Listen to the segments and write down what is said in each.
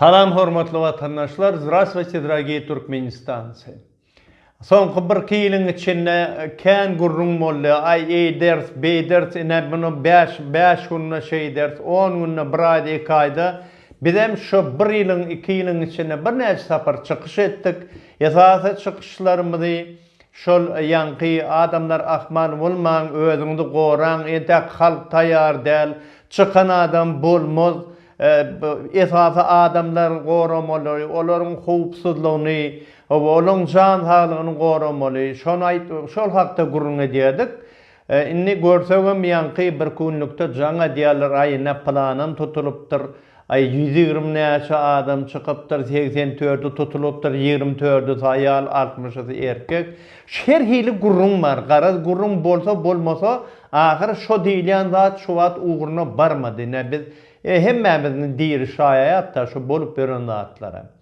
Salam hormatly watandaşlar Zdravstvuyte dragiye Türkmenistancy Soňky bir iki ýylyň içinde kän gürrüň boldy aý eýders beýders ine muny bäş bäş günde şeýders on günde bir aýda iki aýda Bizem şu bir ýylyň, iki ýylyň içinde birnäçe sapar çykyş etdik. Esasy çykyşlarymyzy şol ýaňky adamlar ahmal bolmaň, özüňizi goraň, entäk halk taýýar däl, çykan adam bolmaz, esasy adamlary goramaly, olaryň howpsuzlygyny we olaryň jan saglygyny goramaly, şony aýt, şol hakda gürrüň edýärdik. E, indi görsegem ýaňky bir künlükde jaň edýärler, aý, ine, pylanam tutulypdyr, aý, ýüz ýigrimi näçe adam çykypdyr, segsen tördi tutulypdyr, ýigrimi tördüsi aýal, altmyşysy erkek. Şu her hili gürrüň bar. Garaz, gürrüň bolsa, bolmasa, ahyry şo diýilýän zat şu wagt ugruna barmady. Ine, biz, e, hemmämiz indi diri şaýaýat-da şu bolup ýören zatlara.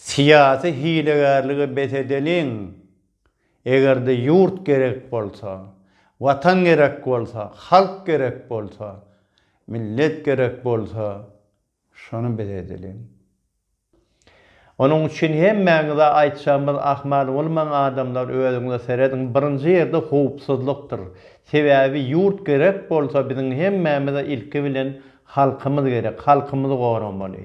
Syýasy hilegärlige bes edeliň! Eger-de ýurt gerek bolsa, Watan gerek bolsa, halk gerek bolsa, millet gerek bolsa, şony bes edeliň! Onuň üçin hemmäňize aýtjagymyz ahmal bolmaň adamlar özüňize serediň birinji ýerde howpsuzlykdyr. Sebäbi ýurt gerek bolsa biziň hemmämize ilki bilen halkymyz gerek, halkymyzy goramaly.